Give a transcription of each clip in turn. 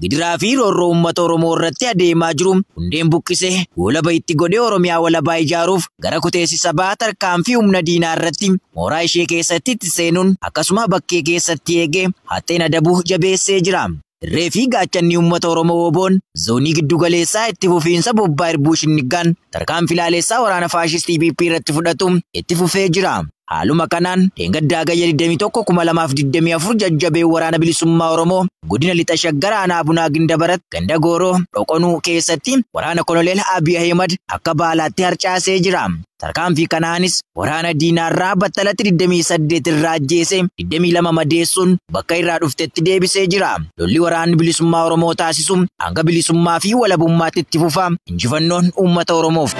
Gidiraa fi roorroo uummata Oromoo irratti adeemaa jiru hundeen buqqisee goolaba itti godhee Oromiyaa walabaa ijaaruuf gara kuteessi sabaa tarkaanfii humna diinaa irratti mooraa ishee keessatti itti seenuun akkasuma bakkee keessatti eegee haxxeen adabuu jabeessee jira. Irree fi gaachanni uummata Oromoo WBOn Zoonii Giddu Galeessaa itti fufiinsa bobbaa Irbuu Shinniggaan tarkaanfii laaleessaa waraana faashistii PP irratti fudhatu itti fufee jira. Haaluma kanaan dheengadda Hagayya 21,2024 jajjabeen Waraana Bilisummaa Oromoo Godina Lixa Shaggar Aanaa Bunaa Gindabarat Ganda Gooroo, Dhoqonuu, keessatti waraana Koloneel Abiy Ahimad akka baalaatti harcaasee jira. Tarkaanfii kanaanis waraana diinaarraa battalatti 28 irraa ajjeesee 22 madeessuun bakka irraa dhuftetti deebisee jira. Lolli waraanni bilisummaa Oromoo taasisu hanga bilisummaa fi walabummaatti itti fufa. Injifannoon uummata Oromoof!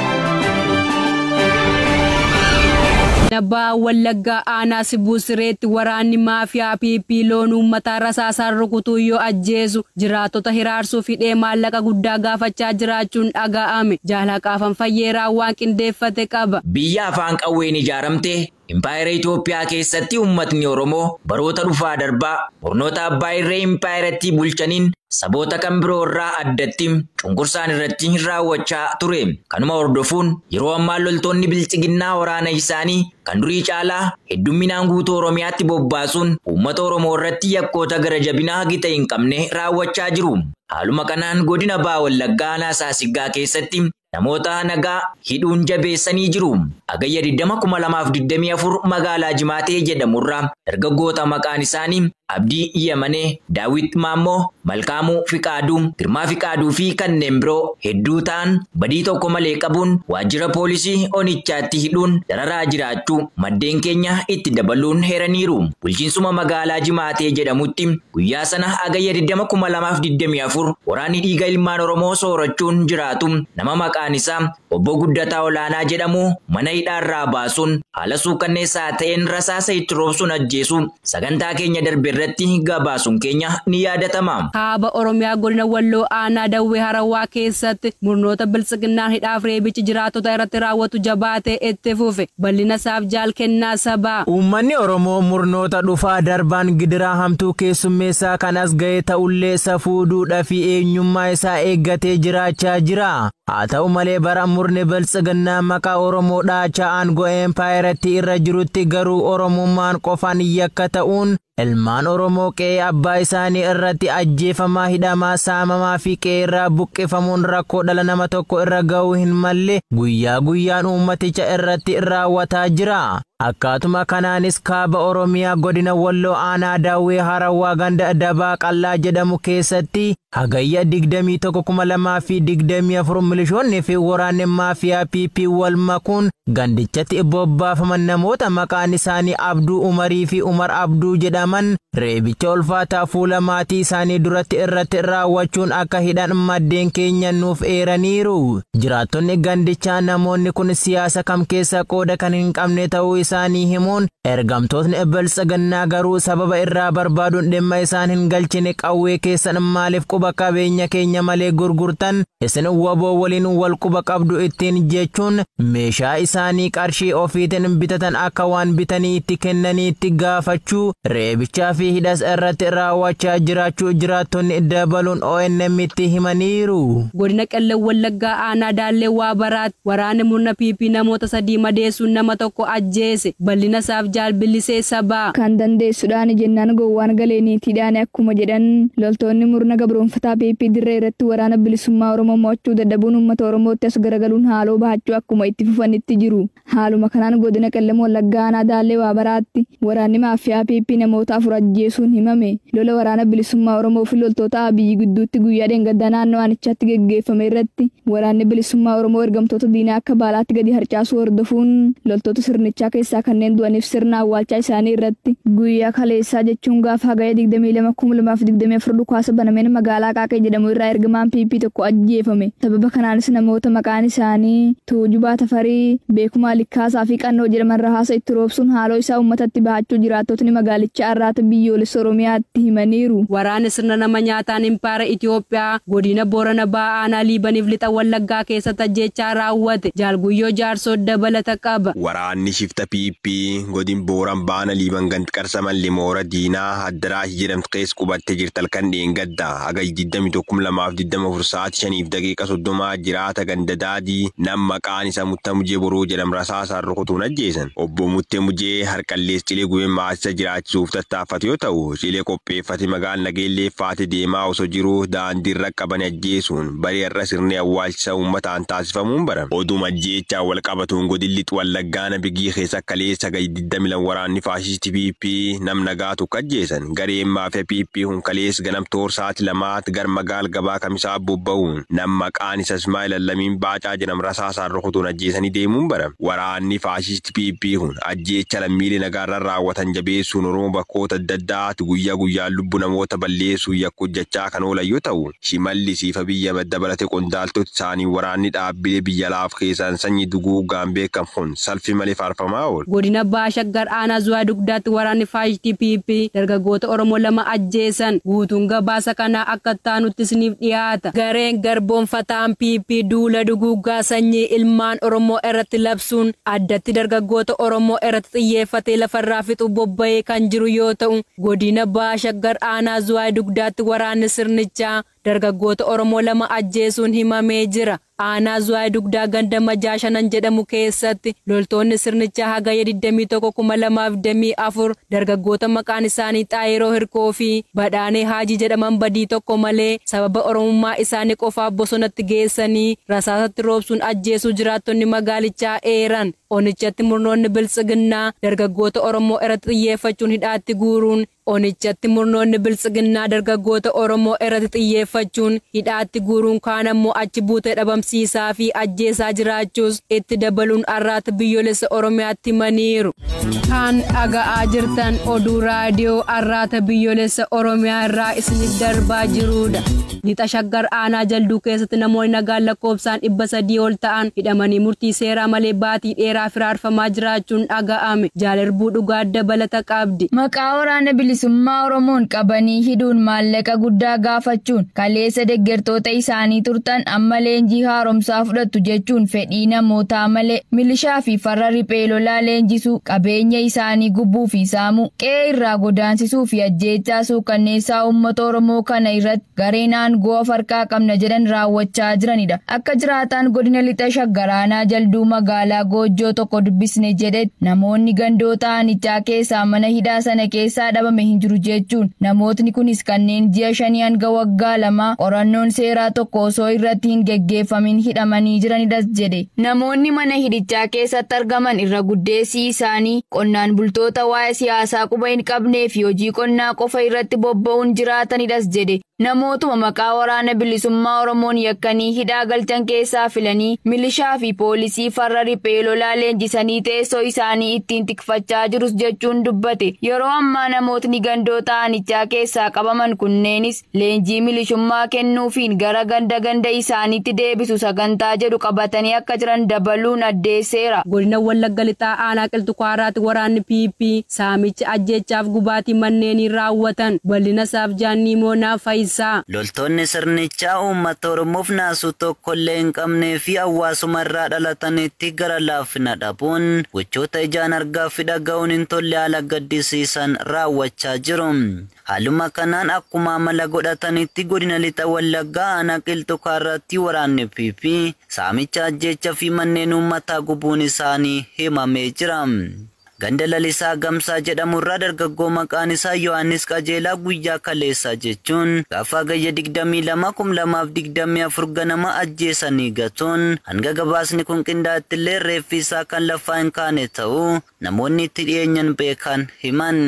Baha Wallaggaa aanaa Sibuu Sireetti waraanni maafiyaa PP loon uummataa rasaasaan rukutuun yoo ajjeesu Jiraattota hiraarsuuf hidhee maallaqa guddaa gaafachaa jiraachuun dhagaa'ame. Jaal Haqaafan Fayyeeraa waan qindeeffate qaba. Biyya afaan qawween ijaaramte Impaayera Itoophiyaa keessatti uummatni Oromoo baroota dhufaa darbaa murnoota abbaa irree impaayerattii bulchaniin saboota kan biroo irraa addatti cunqursaan irratti raawwachaa ture. Kanuma hordofuun yeroo ammaa loltoonni Bilxiginnaa waraana isaanii kan durii caalaa heddumminaan guutuu Oromiyaatti bobbaasuun uummata Oromoo irratti yakkoota gara jabinaa gita hin qabne raawwachaa jiru. Haaluma kanaan godina Baha Wallaggaa aanaa Saasiggaa keessatti namoota nagaa hidhuun jabeessanii jiru. Hagayya 20,2024 magaalaa Jimaatee jedhamu irraa dargaggoota maqaan isaanii Abdii Yemanee, Daawwit Maammoo, Malkaamuu Fiqaaduu, Girmaa Fiqaaduu fi kanneen biroo hedduu ta'an badii tokko malee qabuun waajjira poolisii onichaatti hidhuun dararaa jiraachuu maddeen keenya itti dabaluun heeraniiru. Bulchiinsuma magaalaa Jimaatee jedhamutti guyyaa sana Hagayya 20,2024 waraanni dhiiga ilmaan Oromoo soorachuun jiraatu nama maqaan isaa Obbo Guddataa Olaanaa jedhamu mana hidhaarraa baasuun haala suukkanneessaa ta'een rasaasa itti roobsuun ajjeesuu sagantaa keenya darberratti gabaasuun keenya ni yaadatama. Kaaba Oromiyaa Godina Walloo Aanaa Dawwee Harawwaa keessatti murnoota Biltsiginnaan hidhaaf reebichi jiraattota irratti raawwatu jabaatee itti fufe. Bal'ina isaaf Jaal Kennaa Sabaa. Uummanni Oromoo murnoota dhufaa darbaan gidiraa hamtuu keessummeessaa kan as gahe ta'ullee safuu, duudhaa fi eenyummaa isaa eeggatee jiraachaa jira. Haa ta'u malee bara murni Biltsiginnaa maqaa Oromoo dhaachaa aangoo eempaayerattii irra jirutti garuu Oromummaan qofaan yakka ta'uun ilmaan Oromoo qe'ee abbaa isaanii irratti ajjeefamaa, hidhamaa, saamamaa fi qe'eerraa buqqifamuun rakkoo dhala nama tokko irra ga'uu hin malle guyyaa guyyaan uummaticha irratti raawwataa jira. Akkaatuma kanaanis Kaaba Oromiyaa Godina Walloo Aanaa Dawwee Harawwaa Ganda Dabaa Qal'aa jedhamu keessatti Hagayya 21,2024 milishoonni fi waraanni maafiyaa PP wal makuun gandichatti bobbaafaman namoota maqaan isaanii Abduu Umarii fi Umar Abduu jedhaman reebicha ulfaataa fuula maatii isaanii duratti irratti raawwachuun akka hidhan maddeen keenya nuuf eeraniiru. Jiraattonni gandichaa namoonni kun siyaasa kam keessa qooda kan hin qabne ta'uu isaanii himuun ergamtootni biltsiginnaa garuu sababa irraa barbaaduun dhimma isaan hin galchine qawwee keessan maaliif quba qabeenya keenya malee gurgurtan isin waboo waliin wal quba qabdu ittiin jechuun meeshaa isaanii qarshii ofiitiin bitatan akka waan bitanii itti kennaniitti gaafachuu reebichaa fi hidhas irratti raawwachaa jiraachuu jiraattonni dabaluun ONM'tti himaniiru. Godina Qellem Wallaggaa Aanaa Daallee Waabaraatti Waraanni murna PP namoota sadii madeessuun nama tokko ajjeese. Bal'ina isaaf Jaal Billisee Sabaa. Kan dandeessu dhaani jennaan gowwaan galee niitii dhaane akkuma jedhan, loltoonni murna gabroomfataa PP dirree irratti Waraana Bilisummaa Oromoo mo'achuu dadhabuun uummata Oromootti as garagaluun haaloo bahachuu akkuma itti fufanitti jiru. Haaluma kanaan Godina Qellem Wallaggaa Aanaa Daallee Waabaraatti waraanni maaffiyaa PP namoota afur ajjeesuun himame. Lola Waraana Bilisummaa Oromoo fi loltoota Abiy gidduutti guyyaa dheengaddaa naannoo aanichaatti geggeeffame irratti Waraanni Bilisummaa Oromoo ergamtoota diinaa akka baalaatti gadi harcaasuu hordofuun loltoota sirnichaa keessaa kanneen du'aniif sirna awwaalchaa isaanii irratti guyyaa kaleessaa jechuun gaafa Hagayya 22,2024 dhukaasa banameen magaalaa Aqaaqii jedhamu irraa ergamaan PP tokko ajjeefame. Sababa kanaanis namoota maqaan isaanii Tuujubaa Tafarii, Beekumaa Likkaasaa fi Qannoo jedhaman rahaasa itti roobsuun haaloo isaa uummatatti bahachuu jiraattotni magaalichaa Arraata Biyyoolessa Oromiyaatti himaniiru. Waraana sirna nama nyaataan impaayera Itiyoophiyaa godina Boorana Bahaa Aanaa Liibaniif Lixa Wallaggaa keessatti ajjeechaa raawwate Jaal Guyyoo Jaarsoo dabalata qaba. Waraanni shifta PP godin Booran Baana Liiban gand Qarsamalli moora diinaa Addaraashi jedhamtu keessa qubatte jirti halkan dheengadda Hagayya 21,2024 sa'aati 5:30 jiraata ganda Daadii nam maqaan isa Mutta Mujee Boruu jedham rasaasaan rukutuun ajjeesan. Obbo Mutte Mujee harqallees cilee gube maatisa jiraachisuuf tattaaffatu yoo ta'u cilee qopheeffate magaal Nageellee faate deemaa osoo jiru daandiin qaqqaban ajjeesuun barii har'a sirni awwaalchisa uummataan taasifamuun barame. Oduuma ajjeechaan wal qabatuun godin Lix Wallaggaa Ana Bigii keessa kaleessa Gayy 22 waraanni faashisti PP nam nagaa tokko ajjeesan. Gareen maafiya PP kun kaleess ganam toor saati lamaat gar magaal gabaa kamisaa bobba'uun nam maqaan isa Ismaa'el Allamiin Baacaa jedham rasaasaan rukutuun ajjeesanii deemuun barame. Waraanni faashisti. PPHOn ajjeechaa lammiilee nagaarran raawwatan jabeessuun Oromoo bakkoota adda addaatti guyyaa guyyaan lubbu namoota balleessuun yakka hojjachaa kan oolan yoo ta'u, Shimallis fi Abiy Ahimad dabalatee qondaaltoti isaanii waraanni dhaabbilee biyya alaaf keessaan sanyii duguuggaan beekan kun salfii malee faarfamaa oolu. Godina Baha Shaggar Aanaa Zuwaa Dugdaatti waraanni faashistii PP dargaggoota Oromoo lama ajjeesan. Guutuun gabaasa kanaa akka itti aanutti isiniif dhiyaata. Gareen garboomfataan PP duula duguuggaa sanyii ilmaan Oromoo irratti labse. dhabamsiisuun addatti dargaggoota Oromoo irratti xiyyeeffatee lafarraa fixuu bobba'ee kan jiru yoo ta'u, godina Baha Shaggar aanaa Zuwaay Dugdaatti waraanni sirnichaa dargaggoota Oromoo lama ajjeesuun himamee jira. Aanaa Zuwaay Dugdaa ganda Majaa Shanan jedhamu keessatti loltoonni sirnichaa Hagayya 21,2024 Dargaggoota maqaan isaanii Xaayiroo Hirkoo fi Badhaanee Haajii jedhaman badii tokko malee sababa Oromummaa isaanii qofaaf bosonatti geessanii rasaasatti roobsuun ajjeesuu jiraattonni magaalichaa eeran. Onichatti murnoonni Biltsiginnaa dargaggoota Oromoo irratti xiyyeeffachuun hidhaatti guuruun Onichatti murnoonni Biltsiginnaa dargaggoota Oromoo irratti xiyyeeffachuun hidhaatti guuruun kaan ammoo achi buutee dhabamsiisaa fi ajjeesaa jiraachuus Itti dabaluun Arraata Biyyoolessa Oromiyaatti himaniiru. Kan dhaga'aa jirtan oduu raadiyoo Arraata Biyyoolessa Oromiyaa irraa isiniif darbaa jiruudha. Lixa Shaggar aanaa Jalduu keessatti namoonni nagaan lakkoobsaan dhibba sadii ol ta'an hidhamanii murtii seeraa malee baatii dheeraaf hiraarfamaa jiraachuun dhaga'ame. Jaal Irbuu Dhugaa dabalata qabdi. Maqaa Waraana Bilisummaa Oromoon qabanii hidhuun maallaqa guddaa gaafachuun kaleessa deggertoota isaanii turtan Amma leenjii haaromsaa fudhattu jechuun fedhii namootaa malee milishaa fi farra riphee lolaa leenjisuu, qabeenya isaanii gubbuu fi saamuu, qe'ee irraa godaansisuu fi ajjeechaa suukkanneessaa uummata Oromoo kana irratti gareen aangoo of harkaa qabna jedhan raawwachaa jiranidha. Akka jiraataan godina Lixa Shaggar aanaa Jalduu magaalaa Goojjoo tokko dubbisne jedhetti namoonni gandoota aanichaa keessaa mana hidhaa sana keessaa dhabame hin jiru jechuun namootni kunis kanneen ji'a shanii hanga waggaa lamaa qorannoon seeraa tokko osoo irratti hin geggeeffamin hidhamanii jiranidas jedhe. Namoonni mana hidhichaa keessatti argaman irra guddeessi isaanii qonnaan bultoota waa'ee siyaasaa quba hin qabnee fi hojii qonnaa qofa irratti bobba'uun jiraatanidhas jedhe. Namootuma maqaa Waraana Bilisummaa Oromoon yakkanii hidhaa galchan keessaa filanii milishaa fi poolisii farra riphee lolaa leenjisanii teessoo isaanii ittiin tikfachaa jirus jechuun dubbate. Yeroo ammaa namootni gandootaa aanichaa keessaa qabaman kunneenis, leenjii milishummaa kennuufiin gara ganda ganda isaaniitti deebisu sagantaa jedhu qabatanii akka jiran dabaluun addeesseera. Godina Wallagga Lixaa Aanaa Qilxu Kaarraatti waraanni PP saamicha, ajjeechaaf gubaatii manneenii raawwatan. Bal'ina isaaf Jaanniimoo Na Fayisaa. Loltoonni sirnichaa uummata Oromoof naasuu tokkollee hin qabnee fi hawwaasuma irraa dhalatanitti gara laafina dhabuun gochoota ijaan argaa fi dhaga'uun hin tolle haala gaddisiisan raawwachaa jiru. Haaluma kanaan akkuma amala godhatanitti godina lixa Wallaggaa aanaa Qilxuu Kaarraatti waraanni PP saamicha, ajjeechaa fi manneen uummataa gubuun isaanii himamee jira. Ganda Lalisaa Gamsaa jedhamu irraa dargaggoo maqaan isaa Yohaannis Qajeelaa guyyaa kaleessaa jechuun gaafa Hagayya 22, 2024 ganama ajjeesanii gatuun hanga gabaasni kun qindaa'etti illee reeffi isaa kan lafaa hin kaane ta'uu namoonni itti dhiyeenyan beekan himan.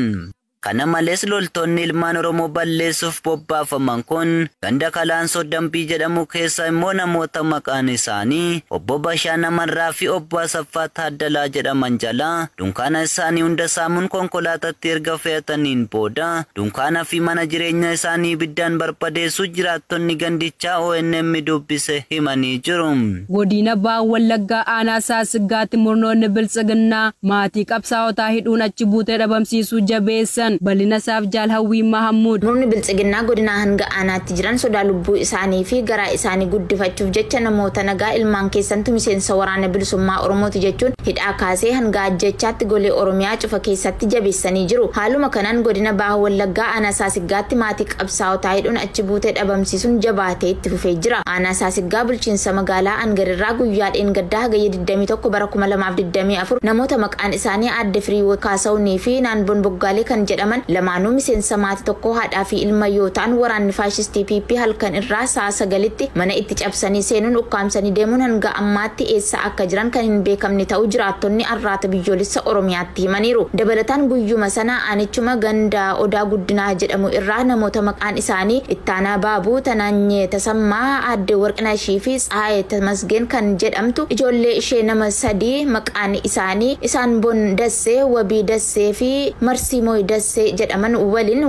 Kana malees loltoonni ilmaan Oromoo balleessuuf bobbaafaman kun ganda Kalaansoo Dambii jedhamu keessaa immoo namoota maqaan isaanii Obbo Bashaa Namarraa fi Obbo Asaffaa Taaddalaa jedhaman jalaa dunkaana isaanii hunda saamuun konkolaatatti erga fe'ataniin booda dunkaana fi mana jireenyaa isaanii ibiddaan barbadeessuu jiraattonni gandichaa ONM dubbise himanii jiru. Godina Baha Wallaggaa Aanaa Saassiggaatti murnoonni Biltsiginnaa maatii qabsaa'otaa hidhuun achi buutee dhabamsiisuu jabeessan. Bal'ina isaaf Jaal Hawwii Mahammud. Murni Biltsiginnaa godinaa hanga aanaatti jiran sodaa lubbuu isaanii fi garaa isaanii guddifachuuf jecha namoota nagaa ilmaan keessantu miseensa Waraana Bilisummaa Oromooti jechuun hidhaa kaasee hanga ajjeechaatti golee Oromiyaa cufa keessatti jabeessanii jiru. Haaluma kanaan godina Baha Wallaggaa Aanaa Saasiggaatti maatii qabsaa'otaa hidhuun achi buute dhabamsiisuun jabaatee itti fufee jira. Aanaa Saasiggaa bulchiinsa magaalaa Angar irraa guyyaa dheengaddaa Hagayya 21 bara 2024 namoota maqaan isaanii Aadde Firihiwoot Kaasahunii fi Naanboon Boggaalee kan jedhaman lamaanuu miseensa maatii tokkoo haadhaa fi ilma yoo ta'an waraanni faashistii PP halkan irraa sa'a 9tti mana itti cabsanii seenuun ukkaamsanii deemuun hanga ammaatti eessa akka jiran kan hin beekamne ta'uu jiraattonni Arraata Biyyoolessa Oromiyaatti itti himaniiru. Dabalataan guyyuma sana aanichuma ganda Odaa Guddinaa jedhamu irraa namoota maqaan isaanii Ittaanaa Baabuu, Tanaanyee Tasammaa, Aadde Warqinashii fi Tsahaayee Tamasgeen kan jedhamtu ijoollee ishee nama sadii maqaan isaanii Isaanbon Dassee, Wabii Dassee fi Marsiimooy Dassee jedhaman waliin.